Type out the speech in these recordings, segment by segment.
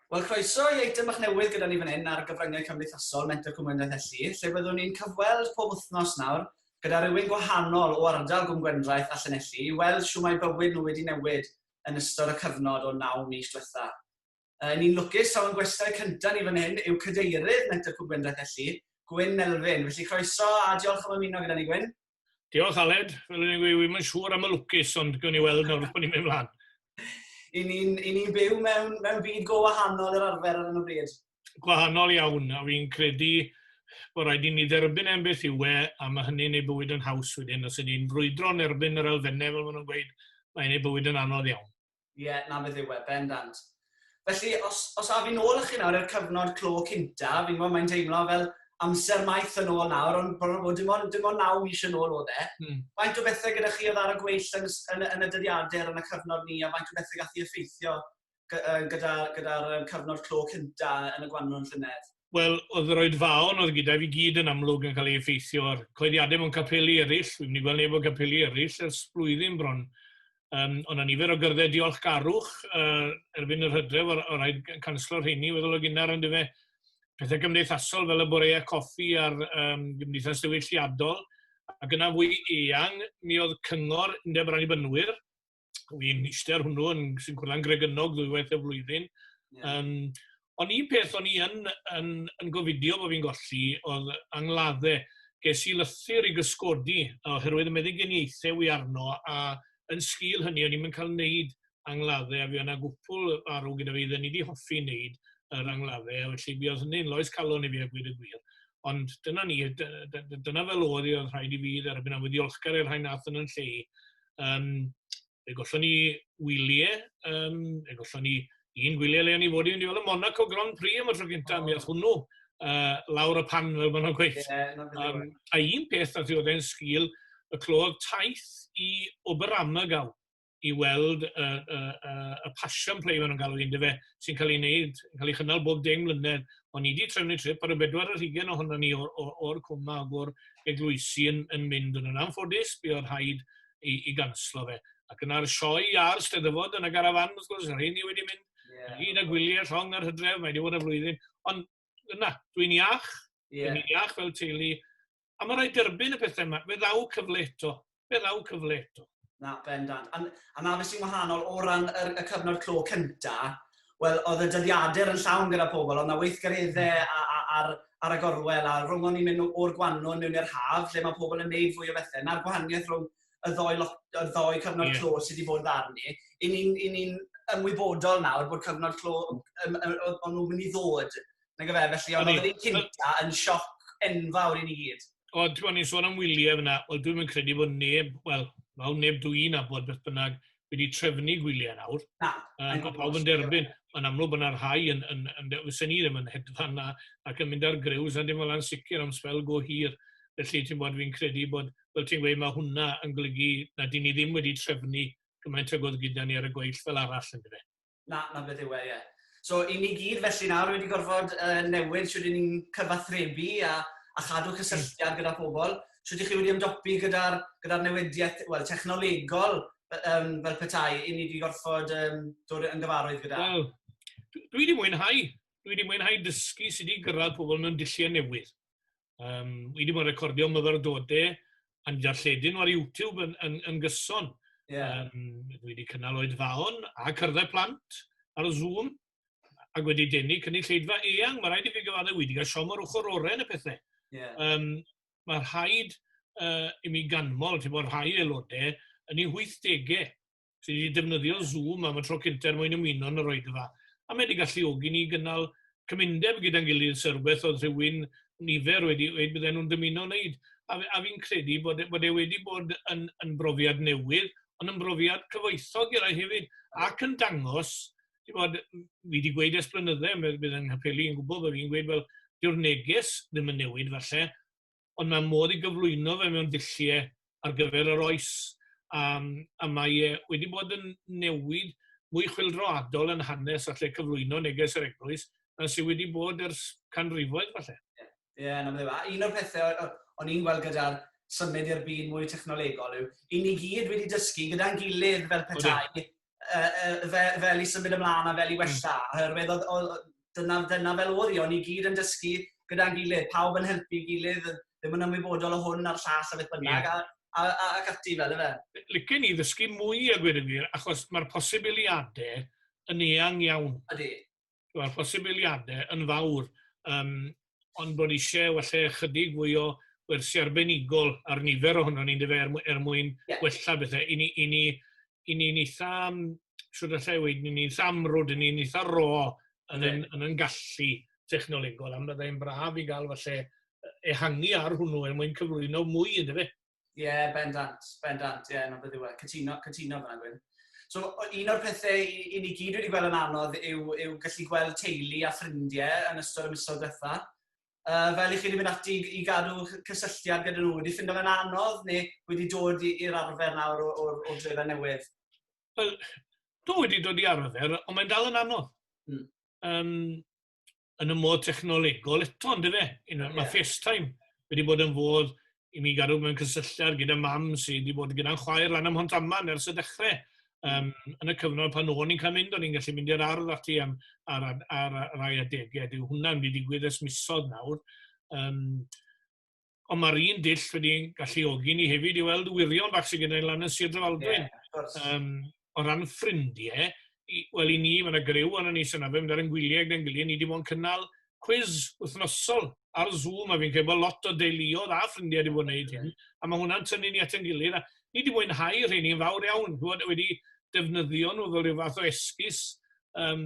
Wel, croeso i eitem bach newydd gyda ni fan hyn ar gyfryngau cymdeithasol Mentor Cymwyniaeth Elli, lle byddwn ni'n cyfweld pob wythnos nawr gyda rhywun gwahanol o ardal Gwm Gwendraeth a Llanelli i weld siw mae bywyd nhw wedi newid yn ystod y cyfnod o naw mis diwetha. Yy ni'n lwcus taw ein gwestai cynta ni fan hyn yw Cadeirydd Met-tg Cwm Gwendraeth Elli, Gwyn Melvin. Felly croeso a diolch am ymuno gyda ni Gwyn. Diolch Aled, fel o'n i'n gweud, wi'm yn siŵr am y lwcus ond gwn i weld nawr bod ni'n mynd mlaen. I ni'n i ni'n byw mewn mewn byd go wahanol i'r arfer ar hyn o bryd. Gwahanol iawn, a fi'n credu bod rhaid i ni dderbyn e'n beth yw e, a mae hynny'n ei bywyd yn haws wedyn. Os ydyn ni'n brwydro yn erbyn yr elfennau fel maen nhw'n gweud, mae'n ei bywyd yn anodd iawn. Ie, yeah, na beth yw e, bendant. Felly, os, os a fi'n ôl â chi nawr i'r cyfnod clo cynta, fi'n gwybod mae'n deimlo fel amser maith yn ôl nawr, ond bod bod dim ond, dim ond naw mis yn ôl oedd e. Mm. Faint o bethau gyda chi oedd ar y gweill yn, yn, yn y dyddiadur yn y cyfnod ni, a faint o bethau gath i effeithio gyda'r gyda, gyda cyfnod clo cynta yn y gwannw'n llynedd? Wel, oedd yr oedfaon oedd gyda fi gyd yn amlwg yn cael ei effeithio ar coeddiadau mewn capeli eraill. Fi'n mynd i gweld neb o capeli eraill ers blwyddyn bron. Um, ond a nifer o gyrddau diolchgarwch uh, erbyn yr hydref o'r, or rhaid canslo'r rheini weddol o gynnar yn dyfe pethau cymdeithasol fel y boreau coffi a'r um, gymdeithas diwylliadol. Ac yna fwy eang, mi oedd cyngor undeb rannibynwyr fi'n eistedd ar hwnnw yn sy'n gwrddau'n gregennog ddwywaith y flwyddyn. Yeah. Um, ond un peth o'n i yn, yn, yn gofidio bod fi'n golli oedd angladdau. Ges i lythyr i gysgodi oherwydd y meddyginiaethau wy arno a yn sgil hynny o'n i'n cael wneud angladdau a fi yna gwpl arw gyda fi ddyn ni wedi hoffi wneud yr angladdau a felly mi oedd hynny'n loes calon i fi a gwir y gwir. Ond dyna ni, dyna fel oedd i oedd rhaid i fi dderbyn a wedi olchgar i'r rhain nath yn yn lle Yym fe gollon ni wylie yym fe gollon ni un gwylie le o'n i fod i fynd i weld y Monaco Grand Prix am y tro gynta oh. mi ath hwnnw uh, lawr y pan fel maen nhw'n gweud. Yeah, um, a un peth a oedd e'n sgil y clod taith i Oberammergau i weld y, y, y, y passion play maen nhw'n galw i'n dyfe, sy'n cael ei wneud, yn cael ei chynnal bob deng mlynedd. O'n ni 'di trefnu trip a roedd bedwar ar hugain ohonon ni o- o- o'r cwm 'ma ag o'r eglwysi yn yn mynd yno. Yn anffodus, buodd rhaid i i ganslo fe. Ac yna'r sioe iâr, Steddfod yn y garafan, wrth gwrs, rheini wedi mynd ynghyd â gwyliau llong yr hydref, mae 'di bod ar flwyddyn. Ond, na, dwi'n iach. Ie. Dwi'n iach fel teulu. A mae'n rhaid derbyn y pethau yma. Fe ddaw cyfle eto. Fe ddaw cyfle eto. Na, bendant. A, a na beth sy'n wahanol o ran y, y cyfnod clo cynta, wel, oedd y dyddiadur yn llawn gyda pobl, oedd yna weithgareddau a, a, ar, ar y gorwel, a rhwng ni'n mynd o'r gwanwn mewn i'r haf, lle mae pobl yn neud fwy o bethau. Na'r gwahaniaeth rhwng y ddoi, lot, y ddoi cyfnod yeah. clo sydd wedi bod ddarn ni. I ni'n ni, ni ymwybodol nawr bod cyfnod clo o'n nhw'n mynd i ddod Nag efe, felly, ond oedd yn cynta yn sioc enfawr i ni gyd. Ond, ti'n ni'n sôn am wyliau fyna, wel, dwi'n mynd credu bod neb, wel, fel neb dwi'n abod beth bynnag, wedi trefnu gwyliau nawr. Na. Uh, mae pawb yn derbyn. Mae'n amlwg bod yna rhai yn, yn, yn, yn fysen ni ddim yn hedfan na, ac yn mynd ar grews a dim fel yna'n sicr am sfel go hir. Felly ti'n bod fi'n credu bod, fel ti'n gweud, mae hwnna yn golygu na dyn ni ddim wedi trefnu gymaint ag oedd gyda ni ar y gweill fel arall yn dweud. Na, na beth yw e, ie. So, i ni gyd felly nawr wedi gorfod uh, newid sydd ni'n cyfathrebu a, a chadw cysylltiad gyda pobl. Sydd chi wedi ymdopi gyda'r gyda newidiaeth well, technolegol um, fel petai i ni wedi gorfod um, dod yn gyfarwydd gyda? Wel, dwi wedi mwynhau. Dwi wedi mwynhau dysgu sydd wedi gyrraedd pobl mewn dulliau newydd. Um, wi wedi bod yn recordio myfyrdodau yn jarlledyn ar YouTube yn, yn, yn gyson. Yeah. Um, dwi wedi cynnal oed faon a cyrddau plant ar y Zoom ac wedi denu cynulleidfa eang. Mae rhaid i fi gyfadde, wedi cael siom ar ochr orau yn y pethau. Yeah. Um, mae rhaid uh, i mi ganmol, ti'n bod rhai aelodau, yn ei 80au. sydd wedi defnyddio Zoom am y tro cyntaf er mwyn ymuno yn yr oed yma. A mae wedi galluogi ni gynnal cymundeb gyda'n gilydd, sy'n rhywbeth oedd rhywun nifer wedi dweud bydden nhw'n dymuno wneud. A, a fi'n credu bod, e, bod e wedi bod yn, yn brofiad newydd, ond yn brofiad cyfoethog i rai hefyd, ac yn dangos, ti'n bod, fi wedi gweud ers blynydde, bydd yng Nghapeli yn gwybod bod fi'n gweud, fel, dyw'r neges ddim yn newid falle, ond mae modd ei gyflwyno fe mewn dulliau ar gyfer yr oes um, a mae e wedi bod yn newid mwy chwildroadol yn hanes a lle cyflwyno neges yr eglwys na sydd wedi bod ers canrifoedd falle. Ie, yeah, yeah, no, un o'r pethau o'n i'n gweld gyda'r symud i'r byd mwy technolegol yw, i ni gyd wedi dysgu gyda'n gilydd fel petai, uh, uh, fe, fel i symud ymlaen a fel i hmm. wella. Mm. Oherwydd oedd, oedd, dyna, dyna fel oedd i, o'n i gyd yn dysgu gyda'n gilydd, pawb yn helpu gilydd, ddim yn ymwybodol o hwn a'r llall a beth bynnag, yeah. a, a, a, ac ati fel efe. Lycyn i ddysgu mwy a gwir yn wir, achos mae'r posibiliadau yn eang iawn. Ydy. wel, posibiliadau yn fawr, um, ond bod eisiau falle chydig fwy o wersi arbenigol ar nifer ohono ni'n dyfa er, er mwyn yeah. wella bethau. I ni, i ni, i ni, ni eitha, siwr allai i weid, ni'n eitha amrwd, i ni'n eitha ro yn, yn, yn, yn gallu technolegol, am byddai'n braf i gael falle ehangu ar hwnnw er mwyn cyflwyno mwy, ynddo fe? Ie, yeah, bendant, bendant, ie, yeah, no beth yw e, cytuno, cytuno fyna gwyn. So, un o'r pethau i ni gyd wedi gweld yn anodd yw, yw gallu gweld teulu a ffrindiau yn ystod y misoedd diwetha. Uh, fel i chi wedi mynd ati i, i gadw cysylltiad gyda nhw, wedi ffindo fe'n anodd neu wedi dod i'r arfer nawr o'r, or, or drefau newydd? Wel, dwi wedi dod i arfer, ond mae'n dal yn anodd. Mm. Um, yn y modd technolegol eto, ynddo fe? You know, yeah. Mae FaceTime wedi bod yn fodd i mi gadw mewn cysylltiad gyda mam sydd wedi bod gyda'n chwaer lan am hont aman ers y dechrau. Um, yn y cyfnod pan o'n i'n cael mynd, o'n i'n gallu mynd i'r ardd ati am, ar, ar, ar, ar rai adegau. Dyw hwnna'n wedi digwydd ys misodd nawr. Um, ond mae'r un dull wedi galluogi ni hefyd i weld wirion bach sy'n gyda'i lan yn Sir Drefaldwyn. Yeah, um, o ran ffrindiau, wel i ni, mae yna grew ond ni sy'n arfer mynd ar yn gwyliau gyda'n gilydd, ni wedi bod yn cynnal cwiz wythnosol ar Zoom, a fi'n credu bod lot o deuluodd a ffrindiau wedi bod yn gwneud hyn, a mae hwnna'n tynnu ni at yn gilydd, a ni wedi mwynhau rheini'n fawr iawn, wedi defnyddio nhw fel rhyw fath o esgus um,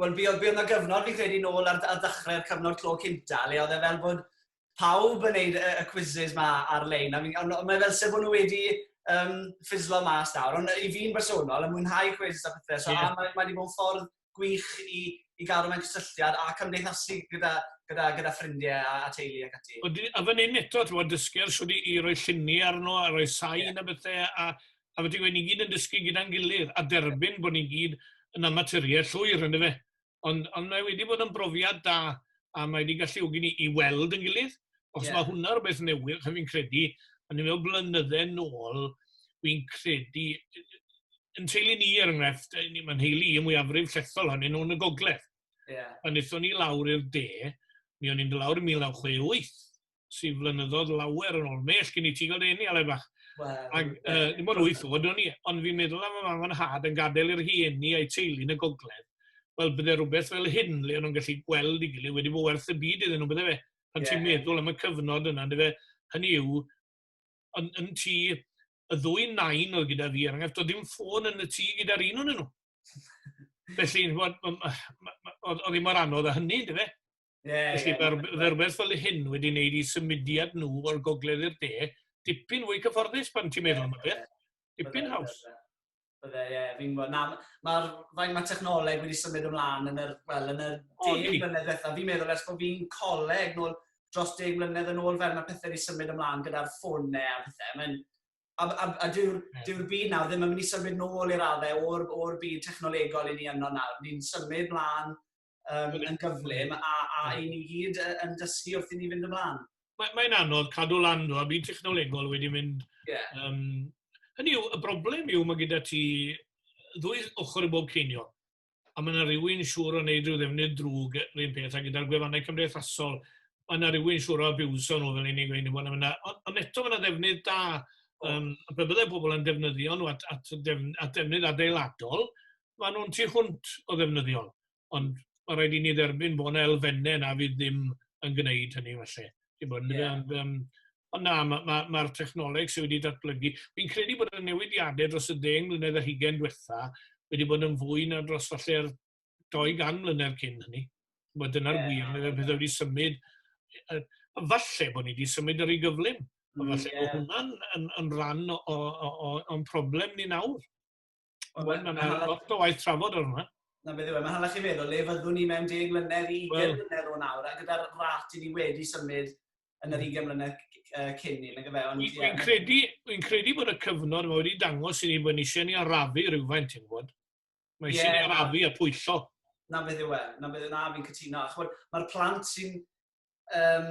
Wel, fi oedd, fi oedd na gyfnod fi'n credu nôl ar, ar ddechrau'r cyfnod clo cynta, le oedd e fel bod pawb yn neud y, y quizzes ma ar-lein. Ond on, on, mae fel sef bod nhw wedi um, ffislo mas nawr. Ond i fi'n bersonol, yn mwynhau quizzes a pethau. So, yeah. a mae, mae wedi bod yn ffordd gwych i, i gael rhywun cysylltiad a cymdeithasu gyda, gyda, gyda ffrindiau a, a teulu ac ati. A fan hyn eto, ti'n bod, dysgu ar swyd i, i roi lluni arno, a roi sain yeah. a bethau, a a felly wy' ni gyd yn dysgu gyda'n gilydd a derbyn bod ni gyd yn amatyried llwyr on'd yfe? Ond ond mae wedi bod yn brofiad da a mae wedi galluogi ni i weld yn gilydd achos yeah. mae hwnna rhywbeth newydd ch'o' fi'n credu o'n i'n meddwl blynydde nôl fi'n credu yn teulu ni er enghraifft ni mae'n heulu i mwyafrif llethol hynny nhw'n y gogledd. Yeah. Pan nithon ni lawr i'r de mi o'n i'n dod lawr yn 1968 sy'n flynyddoedd lawer yn ôl. Mell gen i ti gael dy enni, Aled Fach. Ac, uh, dim ond wyth oed o'n i, ond fi'n meddwl am y mam yn had yn gadael i'r hieni a'i teulu yn y gogledd. Wel, bydde rhywbeth fel hyn, le o'n nhw'n gallu gweld i gilydd wedi bod werth y byd iddyn nhw, bydde fe. Pan yeah. ti'n meddwl am y cyfnod yna, dy fe, hynny yw, yn, yn ti, y ddwy nain oedd gyda fi, er enghraifft, oedd ddim ffôn yn y tŷ gyda'r un o'n nhw. Felly, oedd hi mor anodd a hynny, dy fe? Yeah, Felly, yeah, fe rhywbeth fel hyn wedi wneud i symudiad nhw o'r gogledd i'r de, dipyn fwy cyfforddus pan ti'n meddwl am y beth. Dipyn haws. Bydde, ie, fi'n gwybod. Na, mae'r fain mae technoleg wedi symud ymlaen yn yr, well, yn yr deg mlynedd beth. Fi'n meddwl ers bod fi'n coleg nôl dros deg mlynedd yn ôl fel mae pethau wedi symud ymlaen gyda'r ffonau a pethau. Mae'n A, a, a dyw'r yeah. dyw byd nawr ddim yn mynd i symud nôl i'r addau o'r, or byd technolegol i ni yno nawr. Ni'n symud mlaen um, yn gyflym a, a i ni gyd yn dysgu wrth i ni fynd ymlaen. Mae'n mae anodd cadw lan nhw, a byd technolegol wedi mynd... Yeah. Um, hynny yw, y broblem yw mae gyda ti ddwy ochr i bob ceiniol. A mae yna rhywun siŵr o wneud rhyw ddefnydd drwg yr un peth, a gyda'r gwefannau cymdeithasol, mae yna rhywun siŵr o abiwso nhw fel unig ein bod yna. Ond eto mae yna ddefnydd da, um, a byddai pobl yn defnyddio nhw at, at, defn, at defnydd adeiladol, maen nhw'n tu hwnt o ddefnyddiol, ond mae rhaid i ni dderbyn bod yna elfennau na fydd ddim yn gwneud hynny felly. Ti'n bod, yeah. ond, um, ond na, mae'r ma, ma, ma technoleg sydd wedi datblygu, fi'n credu bod y newidiadau dros y ddeng mlynedd a hugen diwetha wedi bod yn fwy na dros falle'r 200 mlynedd cyn hynny. Mae dyna'r yeah. wir, mae'r pethau wedi symud. Falle bod ni wedi symud ar ei gyflym. Mm, falle yeah. bod hwnna'n yn, yn rhan o'n problem ni nawr. Ond well, mae'n hallach... Lot o waith trafod ar hwnna. Na beth yw e, mae'n hallach i feddwl le fyddwn ni mewn deg mlynedd, 20 well. mlynedd o nawr, a gyda'r rat i ni wedi symud yn yr 20 hmm. mlynedd uh, cyn ni, nag efe. Ond, yeah. credu, fi'n credu bod y cyfnod mae wedi dangos i ni bod ni eisiau ni arafu rhywfaint, ti'n gwybod? Mae eisiau yeah, ni arafu a pwyllo. Na beth yw e, na beth yw e, na fi'n cytuno. Mae'r plant sy'n um,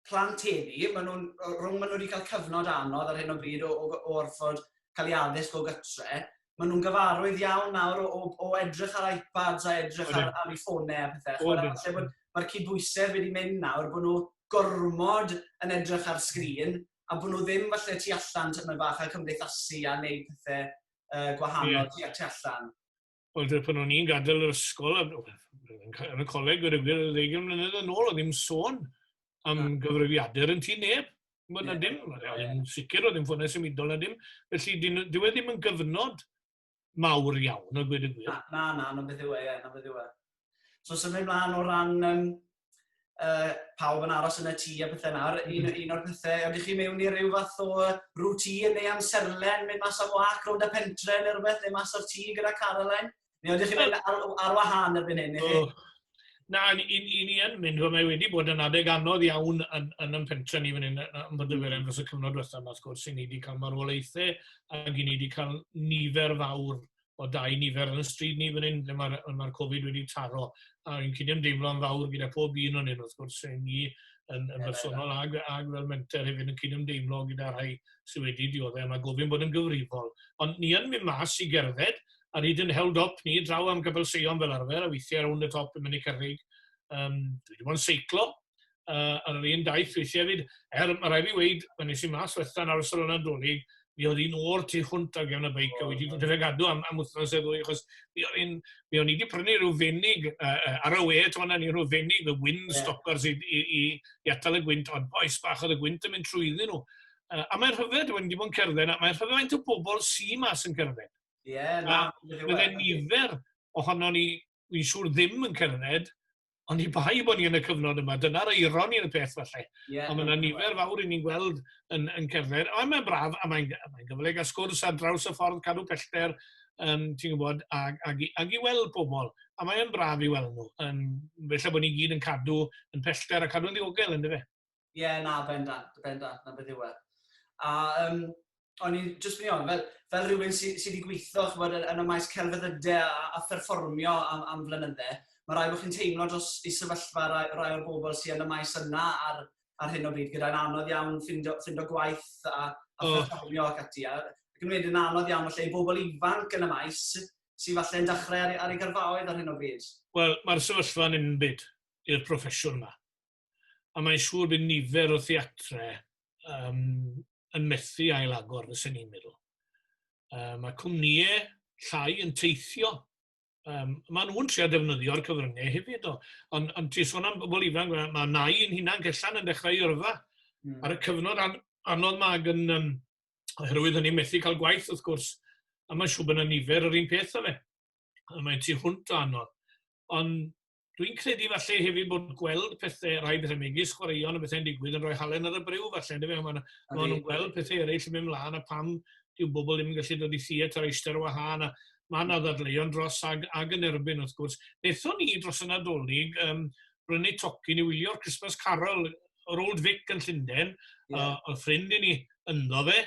plant heddi, maen nhw'n, rhwng maen nhw wedi cael cyfnod anodd ar hyn o bryd o, o, o orfod cael ei addysg o gytre, maen nhw'n gyfarwydd iawn nawr o, o, o edrych ar iPads a edrych ar, ar ei ffonau a pethau. Mae'r ma cydbwysedd wedi mynd nawr bod nhw gormod yn edrych ar sgrin a bod nhw ddim falle tu allan tymed bach a cymdeithasu a wneud pethau uh, gwahanol yeah. tu allan. Wel, dwi, pan o'n i'n gadael yr ysgol, yn y coleg, wedi gwir, y ddeugen mlynedd yn ôl, oedd ddim sôn am ah. gyfrifiadur yn ti neb. Mae'n yeah. dim, yn sicr oedd ddim ffonau symudol na dim. Felly, dwi wedi ddim yn gyfnod mawr iawn, o gwyd y gwir. Na, na, na, na beth yw e, na beth yw e. So symud mlaen o ran um, uh, pawb yn aros yn y tŷ a pethau nawr, un, mm-hmm. un o'r pethau, ydych chi mewn i ryw fath o rŵtîn neu amserlen, mynd mas am wac rownd y pentre neu rhywbeth, neu mas o'r tŷ gyda Caroline? Neu ydych chi'n mynd ar, ar wahân erbyn hyn? Oh. Na, i, i, i ni yn mynd, mae wedi bod yn adeg anodd iawn yn, yn yn pentre ni fan hyn, yn bod y mm. fyrem dros y cyfnod diwethaf yma, sgwrs, i ni wedi cael marwolaethau ac i ni wedi cael nifer fawr o dau nifer yn y stryd ni fan hyn, lle mae'r ma Covid wedi taro. A fi'n cyd ymdeimlo'n fawr gyda pob un o'n hyn, wrth gwrs, rhaid ni yn, yn bersonol ag, ag fel menter hefyd yn cyd ymdeimlo gyda rhai sydd wedi dioddau. Mae gofyn bod yn gyfrifol. Ond ni yn mynd mas i gerdded, a ryd yn held up ni draw am gybl seion fel arfer, a weithiau rownd y top yn mynd i cyrrig. Um, dwi wedi bod yn seiclo, uh, yn yr un daith weithio hefyd. Er, mae rhaid fi weid, pan nes i mas wetha yn arsol yna donig, mi oedd un o'r tu hwnt ar gefn y beic, a wedi dod i'r gadw am, am wythnos e ddwy, achos mi oedd un, mi o'n i wedi prynu rhyw fenig, uh, ar y we, to fanna ni rhyw fenig, y wind yeah. stoppers i, i, i, i atal y gwynt, ond boes bach oedd y gwynt yn mynd trwyddyn nhw. Uh, a mae'n rhyfedd, dwi'n wedi bod yn cerdded, a mae'n rhyfedd faint o bobl sy'n mas yn cerdded. Ie, yeah, na. Byddai'n nifer ohono ni wi'n siŵr ddim yn cerdded, ond i bai bod ni yn y cyfnod yma, dyna'r eiron i'r peth falle. Yeah, ond mae yna nifer fawr i ni'n gweld yn, yn cerdded. Ond mae'n braf, a mae'n mae gyfle gael sgwrs ar draws y ffordd cadw pellter, um, ti'n gwybod, ag, ag, ag i weld pobl. A mae'n braf i weld nhw. Um, felly bod ni gyd yn cadw yn pellter a cadw'n ddiogel, ynddo fe? Ie, yeah, na, bendant, bendant, na beth yw e. A um, o'n i'n just mynd i ofyn, fel, fel rhywun sydd sy wedi gweithio chybod, yn, yn y maes celfyddydau a, a pherfformio am, am flynyddau, mae rhaid bod chi'n teimlo dros i sefyllfa rai, rai o'r bobl sydd yn y maes yna ar, ar hyn o bryd, gyda'n anodd iawn ffindo, ffindo gwaith a, a oh. pherfformio ac ati. A, ac yn wedyn anodd iawn falle i bobl ifanc yn y maes sy'n falle yn dechrau ar, ar ei gyrfaoedd ar hyn o bryd. Wel, mae'r sefyllfa'n unbyd i'r proffesiwn yma. a mae'n siŵr bydd nifer o theatre um, yn methu ailagor, fysyn ni'n meddwl. Um, mae cwmnïau llai yn teithio. Um, mae nhw'n trio defnyddio'r cyfryngau hefyd. O. Ond on, ti sôn am bobl ifanc, mae, mae nai yn hunan cellan yn dechrau i yrfa. Mm. Ar y cyfnod an, anodd mae yn, um, oherwydd hynny methu cael gwaith wrth gwrs, a mae'n siŵr bod yna nifer yr un peth o fe. A mae'n tu hwnt o anodd. Ond Dwi'n credu falle hefyd bod gweld pethau, rhai pethau megis chwaraeon a bethau'n digwydd yn rhoi halen ar y bryw falle, ynddo fe? Mae nhw, nhw'n gweld pethau eraill yn mynd mlaen a pam dyw bobl ddim yn gallu dod i theatr eistedd ar wahân a mae yna ddadleuon dros ag, ag yn erbyn wrth gwrs. Nethon ni dros y Nadolig, um, brynu tocyn i wylio'r Christmas Carol yr Old Vic yn Llundain, yeah. uh, oedd ffrind i ni ynddo fe,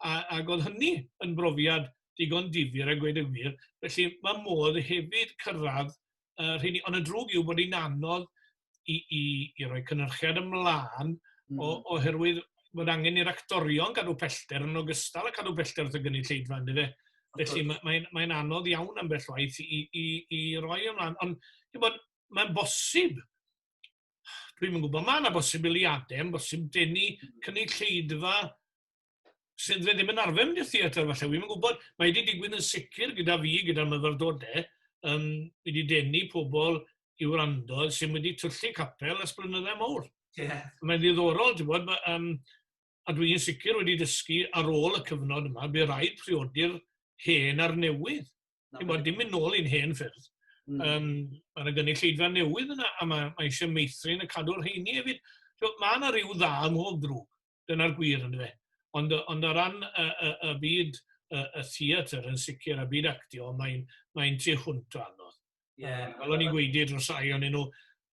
a, ac oedd hynny yn brofiad digon difyr a gweud y gwir. Felly mae modd hefyd cyrraedd y rheini. Ond y drwg yw bod hi'n anodd i, i, i roi cynnyrchiad ymlaen mm. o, oherwydd bod angen i'r actorion gadw pellter yn ogystal a cadw pellter wrth y gynulleidfa, ynddo fe? Felly mae'n mae, mae anodd iawn am bell waith i, i, i roi ymlaen. Ond mae'n bosib, dwi'n yn gwybod, mae yna bosibiliadau, yn bosib denu cynulleidfa sydd fe ddim yn arfer mynd i'r theatr falle, wi'n gwybod, mae wedi digwydd yn sicr gyda fi, gyda'r myfyrdodau, um, wedi denu pobl i wrando sy'n wedi tyllu capel ys blynyddau mawr. Yeah. Mae'n ddiddorol, ti'n bod, um, a dwi'n sicr wedi dysgu ar ôl y cyfnod yma, bydd rhaid priodi'r hen a'r newydd. Ti'n bod, dim mynd nôl i'n hen ffyrdd. Mm. Um, mae yna gynulleidfa newydd yna, a mae, mae eisiau meithrin y cadw'r heini hefyd. So, mae yna rhyw dda ym mhob drwg. Dyna'r gwir, yn dyfe? Ond, ond o ran y, y, y byd y, y theatr yn sicr, a byd actio, mae'n mae tu hwnt o anodd. Yeah. Um, fel o'n i'n gweud i'r rhai o'n nhw,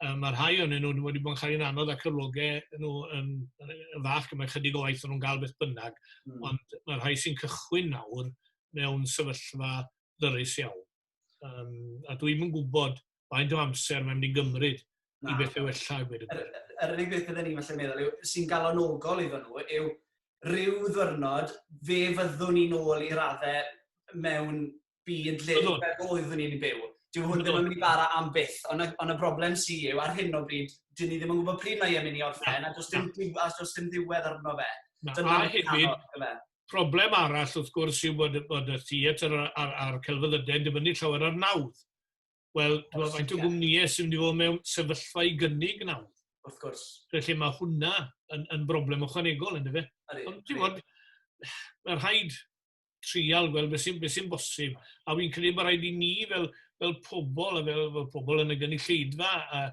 um, mae rhai o'n nhw wedi bod yn cael ein anodd a cyflogau nhw yn, yn fach, mae chydig o waith o'n nhw'n gael beth bynnag, mm. ond mae rhai sy'n cychwyn nawr mewn sefyllfa ddyrus iawn. Um, a dwi'n yn gwybod faint o amser mae'n mynd i gymryd Na. i bethau wella i gwneud y gwir. Yr unig beth byddwn ni'n falle meddwl yw, sy'n galonogol iddyn nhw, yw rhyw ddwrnod fe fyddwn ni'n ôl i raddau mewn byd le fel oeddwn ni'n byw. Dyw hwn ddim yn mynd i bara am byth, ond y, on y broblem sy'n yw, ar hyn o bryd, dyn ni ddim yn gwybod pryd mae e'n mynd i orffen, a does dim, a does dim ddiwedd arno fe. Na, a hefyd, Problem arall wrth gwrs yw bod, bod y theatr a'r, ar, ar celfyddydau yn dibynnu llawer ar nawdd. Wel, dwi'n faint o gwmnïau sy'n mynd i fod mewn sefyllfa i gynnig nawdd. Wrth gwrs. Felly mae hwnna yn, yn broblem ychwanegol, ynddo fe? Ond ti'n bod, mae rhaid trial gweld beth sy'n sy bosib. A fi'n credu bod rhaid i ni fel, fel pobl a fel, fel pobl yn y gynulleidfa a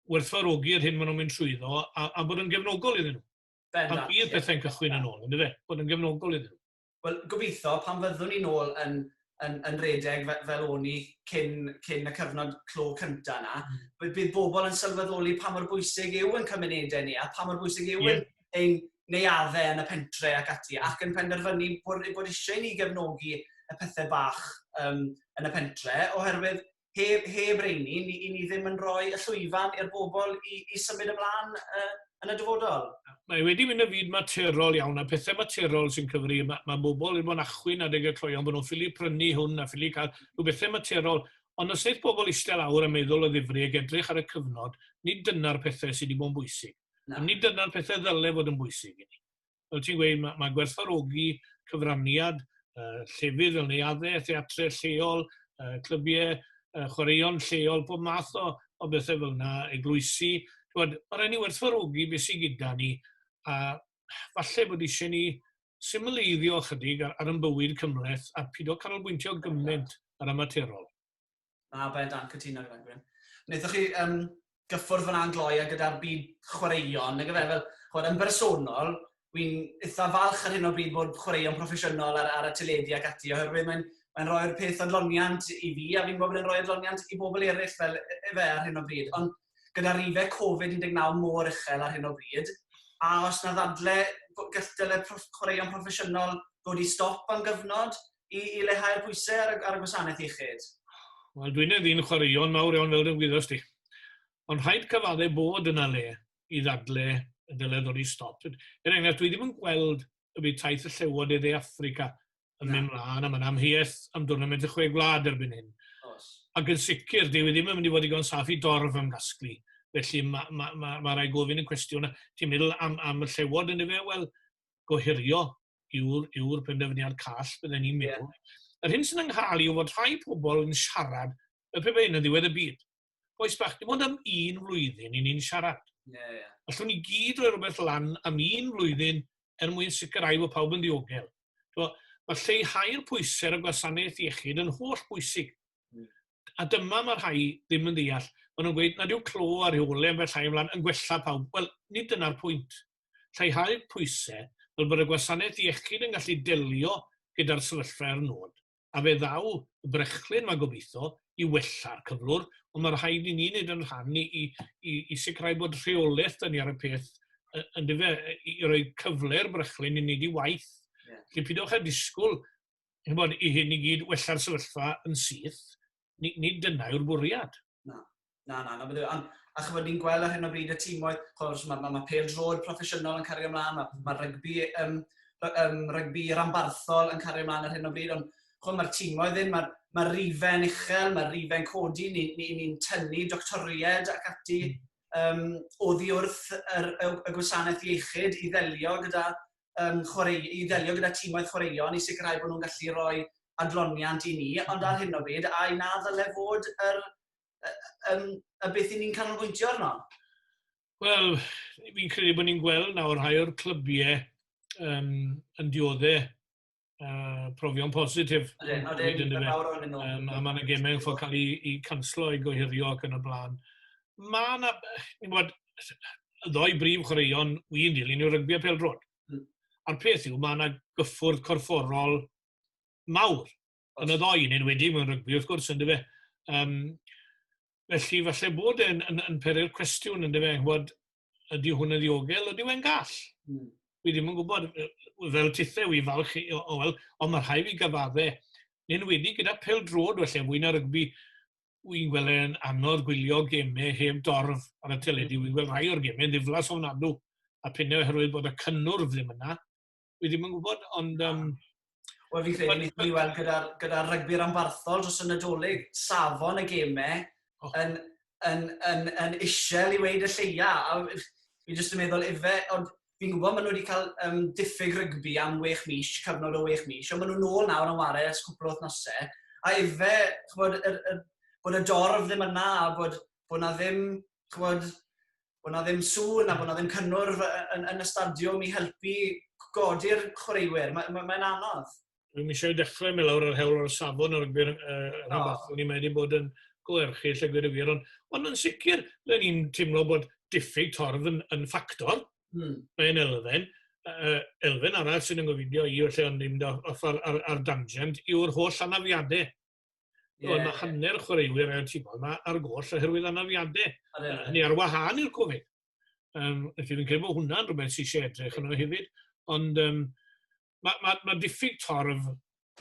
werthfarogi'r hyn maen nhw'n mynd trwyddo a, a bod yn gefnogol iddyn nhw. Bendant. Pan bydd pethau'n cychwyn yn ôl, yndyfe? Bod yn gefnogol iddyn nhw. Wel, gobeithio, pan fyddwn ni'n ôl yn, yn, yn redeg fel o'n i cyn, cyn y cyfnod clo cynta yna, mm. bydd bobl yn sylweddoli pa mor bwysig yw yn cymunedau ni a pa mor bwysig yw yeah. ein neuaddau yn y pentre ac ati, ac yn penderfynu bod, bod eisiau ni gefnogi y pethau bach um, yn y pentre, oherwydd heb, heb reini, ni, i ni ddim yn rhoi y llwyfan i'r bobl i, i symud ymlaen uh, yn y dyfodol. Mae wedi mynd y fyd materol iawn, a pethau materol sy'n cyfri. Mae, mae bobl yn bod yn achwyn adeg y cloion, bod nhw'n ffili prynu hwn a ffili cael rhyw bethau materol. Ond os wnaeth bobl eistedd awr a meddwl o ddifri ag edrych ar y cyfnod, nid dyna'r pethau sydd wedi bod yn bwysig. Na. Ond nid dyna'r pethau ddyle fod yn bwysig i ni. fel ti'n gweud, mae, mae gwerthfarogi cyfraniad uh, llefydd fel neuaddau, theatre lleol, uh, clybiau, uh, chwaraeon lleol, pob math o, o bethau fel yna, eglwysi. Mae rhaid ni werthfarogi beth sy'n gyda ni, a falle bod eisiau ni symleiddio chydig ar, ar yn bywyd cymleth a pido canolbwyntio gymaint ar amaterol. Na, bendant, cytuno gyda Gwyn. Wnaethoch chi um, gyffwrdd fyna yn gloi a gyda'r byd chwaraeon, nag efe, fel, chwarae, yn bersonol, wy'n eitha falch ar hyn o bryd bod chwaraeon proffesiynol ar, ar y teledu ac ati, oherwydd mae'n mae rhoi'r peth adloniant i fi, a fi'n gwybod bod e'n rhoi adloniant i bobl eraill fel efe ar hyn o bryd. Ond gyda rife Covid-19 mor uchel ar hyn o bryd, a os na ddadle galltele proff chwaraeon proffesiynol ddod i stop am gyfnod, i, i lehau'r pwysau ar, ar y gwasanaeth iechyd? Wel, dwi'n ei ddyn chwaraeon mawr iawn fel dwi'n gwyddost ti. Ond rhaid cyfaddau bod yna le i ddadle y dylai ddod i stop. Er enghraifft, dwi ddim yn gweld y bydd taith y llewod i dde Africa yn mynd mlaen am yn amheuaeth am dwrnament y chwe gwlad erbyn hyn. Ac yn sicr, dwi ddim yn mynd i fod i gon saff i dorf am gasglu. Felly mae ma, ma, ma rai gofyn yn cwestiwn, ti'n meddwl am, am y llewod yn efe? Wel, gohirio yw'r yw penderfyniad call, bydden ni'n meddwl. Yeah. Yr hyn sy'n ynghal yw fod rhai pobl yn siarad y pe yn y ddiwedd y byd. Boes bach, dim ond am un flwyddyn i ni'n siarad. Yeah, yeah. Allwn ni gyd roi rhywbeth lan am un flwyddyn er mwyn sicrhau bod pawb yn ddiogel. Mae lleihau'r pwysau ar y gwasanaeth iechyd yn holl bwysig. a dyma mae rhai ddim yn ddeall, maen nhw'n gweud nad yw clo a rheole ambell llai ymlaen yn gwella pawb. Wel, nid dyna'r pwynt. Lleihau pwysau, fel bod y gwasanaeth iechyd yn gallu delio gyda'r sefyllfa er nod, a fe ddaw y brechlyn 'ma gobeithio, i wella'r cyflwr, ond mae rhaid i ni wneud yn rhan i, i, i, i sicrhau bod rheolaeth dyn ni ar y peth yn dyfe, i roi cyfle i'r brechlyn i wneud ei waith. Yeah. Felly pidwch â disgwyl chymod, i hyn i gyd wella'r sefyllfa yn syth, nid ni dyna yw'r bwriad. Na, na, na, na bydde. Ond, a chymod, ni'n gweld ar hyn o bryd y tîmoedd, chymod, mae, mae, mae pel drod proffesiynol yn cario ymlaen, mae, mae rygbi, um, um, rygbi rambarthol yn cario ymlaen ar hyn o bryd, ond chymod, mae'r tîmoedd ddim, mae'r mae rifau'n uchel, mae'r rifau'n codi, ni'n ni, ni, ni tynnu doctoried ac ati um, oddi wrth yr, y, y gwasanaeth iechyd i ddelio gyda um, chwarae, i ddelio gyda tîmoedd chwaraeon i sicrhau bod nhw'n gallu rhoi adloniant i ni, ond ar hyn o bryd, a i na ddyle fod yr, y, y, y beth i ni'n canolbwyntio arno? Wel, fi'n credu bod ni'n gweld nawr rhai o'r clybiau um, yn dioddau uh, profion positif. Ydyn, ydyn, yn fawr o'n nhw. Um, a mae yna gemau yn ffordd cael ei, ei canslo, ei gohirio ac yn y blaen. Mae yna, ni'n bod, y ddoi brif chwaraeon wy'n dilyn yw'r rygbi a peldrod. Mm. A'r peth yw, mae yna gyffwrdd corfforol mawr yn y ddoi, yn enwedig mewn rygbi, wrth gwrs, yn dyfa. Um, felly, falle bod e'n yn, yn peri'r cwestiwn, yn dyfa, bod ydy hwn yn ddiogel, ydy e'n gall? Mm. Fi ddim yn gwybod, fel tithau i falch, o, o, wel, ond mae rhai fi gyfadde, nyn wedi gyda pel drod, felly mwy na rygbi, wy'n gweld e'n anodd gwylio gemau heb dorf ar y teledu, wy'n gweld rhai o'r gemau yn ddiflas o'n adw, a pennau oherwydd bod y cynnwrf ddim yna, Wi ddim yn gwybod, ond... Um, Wel, fi credu ni wedi weld gyda'r gyda rygbi'r ambarthol dros y Nadolig, safon y gemau oh. yn, yn, yn, yn isel i weid y lleia. A fi jyst yn meddwl efe, ond fi'n gwybod maen nhw wedi cael um, diffyg rygbi am wech mis, cyfnod o wech mis, ond maen nhw'n ôl nawr yn wario ers cwpl o wythnosau. A efe, chybod, er, er, bod y dorf ddim yna, a bod, bod na ddim, chybod, bod yna ddim sŵn a bod yna ddim cynnwrf yn, yn y stadiwm i helpu godi'r chwaraewyr. Mae'n ma, ma anodd. Dwi'n eisiau dechrau me lawr yr hewl o'r safon o'r gwyr uh, rhywbeth. Oh. Ni mae wedi bod yn gwerchu lle gwir y wir. Ond, ond yn sicr, le ni'n teimlo bod diffyg torf yn, yn ffactor. Hmm. Mae'n elfen. Uh, elfen arall sy'n yngofidio i, felly ond ddim ochr ar, ar, ar dangent, yw'r holl anafiadau Yeah. Oedd yna hanner chwaraewyr ar y tîm yma ar goll oherwydd anafiadau. Hynny ar wahân i'r Covid. Um, felly fi'n credu bod hwnna'n rhywbeth sy'n eisiau edrych yno hefyd. Ond um, mae ma, ma diffyg torf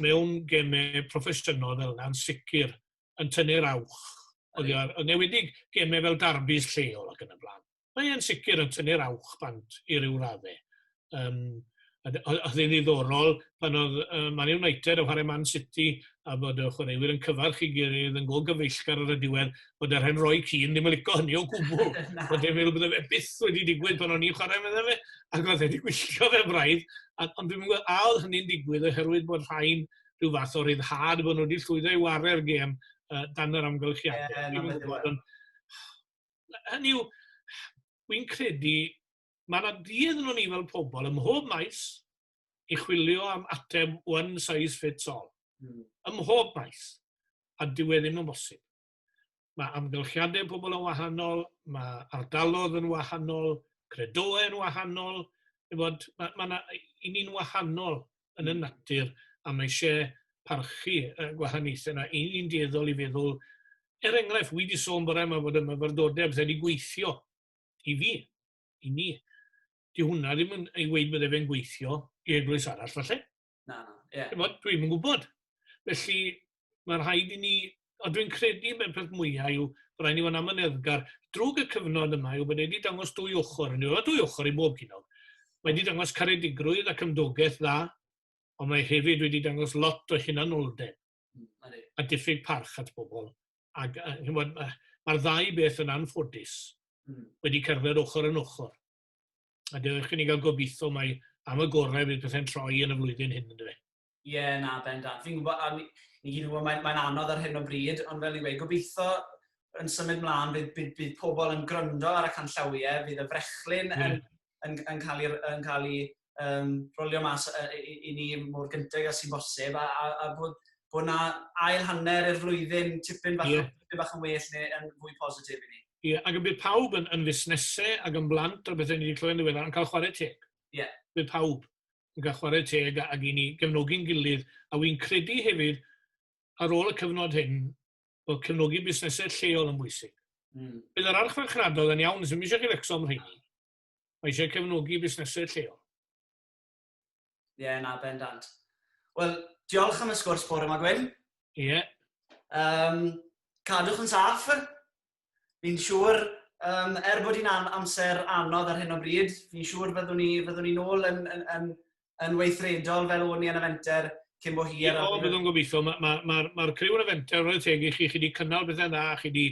mewn gemau proffesiynol fel yna'n sicr yn tynnu'r awch. Oedd yn newedig gemau fel darbys lleol ac yn y blaen. mae e'n sicr yn tynnu'r awch bant i ryw radde. Um, oedd yn ddiddorol pan oedd uh, Man United yn chwarae Man City a bod y chwaraewyr yn cyfarch i gilydd yn go gyfeillgar ar y diwedd bod yr hen roi cyn ddim yn licio hynny o gwbl. Oedd e'n meddwl bod efe byth wedi digwydd pan o'n i'n chwarae meddwl fe ac oedd wedi gwylltio fe braidd. Ond dwi'n meddwl a oedd hynny'n digwydd oherwydd bod rhain rhyw fath o ryddhad bod nhw wedi llwyddo i wario'r gêm uh, dan yr amgylchiadau. Yeah, hynny yw, wy'n credu, mae yna dydd nhw'n ni fel pobl ym mhob maes i chwilio am ateb one size fits all. Mm. Ym mhob maes. A dyw e ddim yn bosib. Mae amgylchiadau pobl yn wahanol, mae ardalodd yn wahanol, credoau yn wahanol, bod, mae, mae na, i ni'n wahanol yn y natur a mae eisiau parchu y gwahaniaethau yna. Yn ni'n dueddol i feddwl, er enghraifft, wi wedi sôn bore yma fod y myfyrdodau bydde wedi gweithio i fi, i ni. Di hwnna ddim yn ei weid bydde fe'n gweithio i eglwys arall falle. Na, ie. Yeah. Dwi'n yn gwybod. Felly, mae rhaid i ni, ond dwi'n credu bod y peth mwyaf yw bod rhaid ni fod yn amyneddgar. Drwg y cyfnod yma yw bod wedi dangos dwy ochr, yn yw'r dwy ochr i bob gynog. Mae wedi dangos caredigrwydd ac ymdogaeth dda, ond mae hefyd wedi dangos lot o hunanoldeb hmm, a diffyg parch at bobl. Ac, mae'r ddau beth yn anffodus hmm. wedi cerdded ochr yn ochr. A dewch i ni gael gobeithio mae am y gorau fydd pethau'n troi yn y flwyddyn hyn, ynddo fe. Ie, na, bendant. Fi'n gwybod, a ni ni gyd yn gwybod, mae'n mae anodd ar hyn o bryd, ond fel i wei, gobeithio yn symud mlaen, bydd, bydd, bydd pobl yn gryndo ar y canllawiau, bydd y frechlyn mm. yn, yn, yn cael ei, yn cael ei um, rolio mas uh, i, i ni mor gyntaf ag sy'n bosib, a, a, a bod, bod na ail hanner i'r flwyddyn tipyn bach, yeah. tipyn bach yn well neu yn fwy positif i ni. Ie, yeah, ac yn bydd pawb yn, yn fusnesau ac yn blant a bethau ni wedi clywed yn ddiweddar yn cael chwarae teg. Ie. Yeah. Bydd pawb. yn cael chwarae teg ag i ni gefnogi'n gilydd, a wy'n credu hefyd ar ôl y cyfnod hyn, bod cefnogi busnesau lleol yn bwysig. Mm. Bydd yr archfarchnadodd yn iawn, sy'n eisiau chi fecso am rheini. Mae eisiau cefnogi busnesau lleol. Ie, yeah, na, bendant. Wel, diolch am y sgwrs bore yma, Gwyn. Ie. Yeah. Um, cadwch yn saff. Fi'n siŵr, um, er bod hi'n an amser anodd ar hyn o bryd, fi'n siŵr fyddwn ni, fyddwn ni'n ôl yn, yn, yn, yn weithredol fel o'n ni yn y fenter cyn bo hir. O, byddwn gobeithio. Mae'r ma, ma, ma, ma criw yn y fenter, roedd teg i chi, chi wedi cynnal bethau dda, chi wedi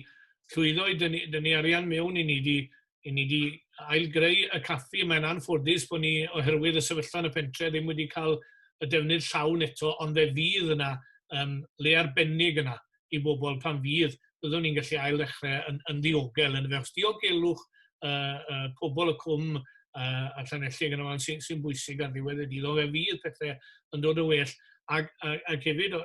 llwyddo i dynnu, dynnu arian mewn i ni, wedi i ni wedi ailgreu y caffi. Mae'n anffodus bod ni, oherwydd y sefyllfa yn y pentre, ddim wedi cael y defnydd llawn eto, ond fe fydd yna um, le arbennig yna i bobl pan fydd. Byddwn ni'n gallu ail ddechrau yn, yn ddiogel yn y fe. Os diogelwch uh, uh, pobl y cwm uh, a Llanelli yn ymlaen sy'n sy bwysig ar ddiwedd y dydd, ond fe fydd pethau yn dod o well. Ac, ac, ac hefyd,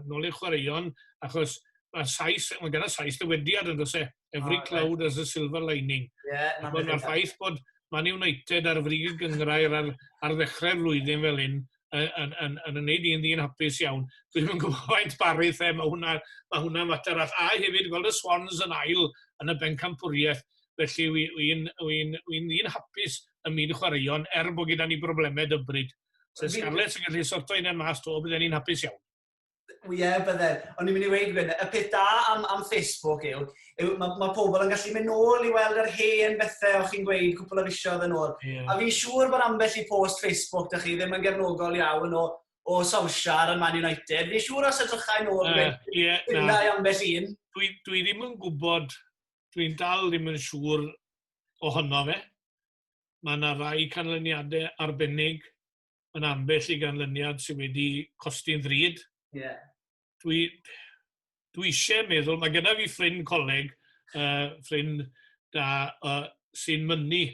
nôl i'r chwaraeon, achos mae Sais, mae gyda Sais dywediad yn dweud Every oh, cloud right. has a silver lining. Yeah, Mae'r ffaith bod Man United ar frig y gyngrair ar, ar ddechrau'r flwyddyn fel hyn, yn, yn, yn, yn gwneud i'n ddyn hapus iawn. Dwi'n yn gwybod faint barith e, mae hwnna, mae hwnna mater all. A hefyd gweld y Swans yn ail yn y bencampwriaeth, felly wy'n wy, wy, wy, wy hapus ym myd chwaraeon, er bod gyda ni broblemau dybryd. So Scarlets yn gallu sorto un yn mas to, bydden ni'n hapus iawn. Ie, bydde. O'n i'n mynd i weud gwyn, y peth da am, am Facebook yw, yw mae ma pobl yn gallu mynd nôl i weld yr hen bethau o'ch chi'n gweud cwpl o fisioedd yn ôl. Yeah. A fi'n siŵr bod ambell i post Facebook da chi ddim yn gefnogol iawn o, o Solskjaer yn Man United. Fi'n siŵr os edrychau nôl, uh, yeah, yeah, na. ambell un. Dwi, dwi ddim yn gwybod, dwi'n dal ddim yn siŵr ohono fe. Mae yna rai canlyniadau arbennig yn ambell i ganlyniad sydd wedi costi'n ddrud. Yeah. Dwi, dwi eisiau meddwl, mae gyda fi ffrind coleg, uh, ffrind da, uh, sy'n mynnu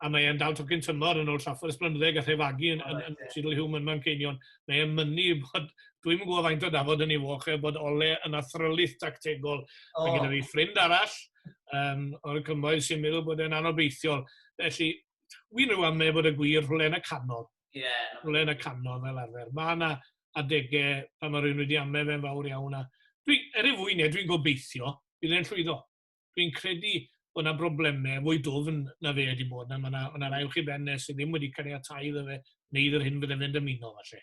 a mae e'n dal tocyn tymor yn ôl Trafford Ysbrynddeg a Thefagu yn, yn, yn Sidle Hume yn Manceinion. Mae e'n mynnu bod, dwi'n gwybod faint o dafod yn ei foch e, bod ole yn athrylith tactegol. Oh. Mae gyda fi ffrind arall um, o'r cymoedd sy'n meddwl bod e'n anobeithiol. Felly, Wi'n rhyw am neb fod y gwir rhywle yn y canol. Ie. Yeah, rhywle yn y canol fel arfer. Mae yna adegau pan mae rhywun wedi amau fe'n fawr iawn. A dwi, er ei fwy neu, dwi'n gobeithio bydd e'n llwyddo. Dwi'n credu bod yna broblemau fwy dwfn na fe wedi bod. Na, mae yna, yna rai uwch i ben e sydd ddim wedi cael ei atai iddo fe, neu idd'r hyn byddai fe'n dymuno, falle.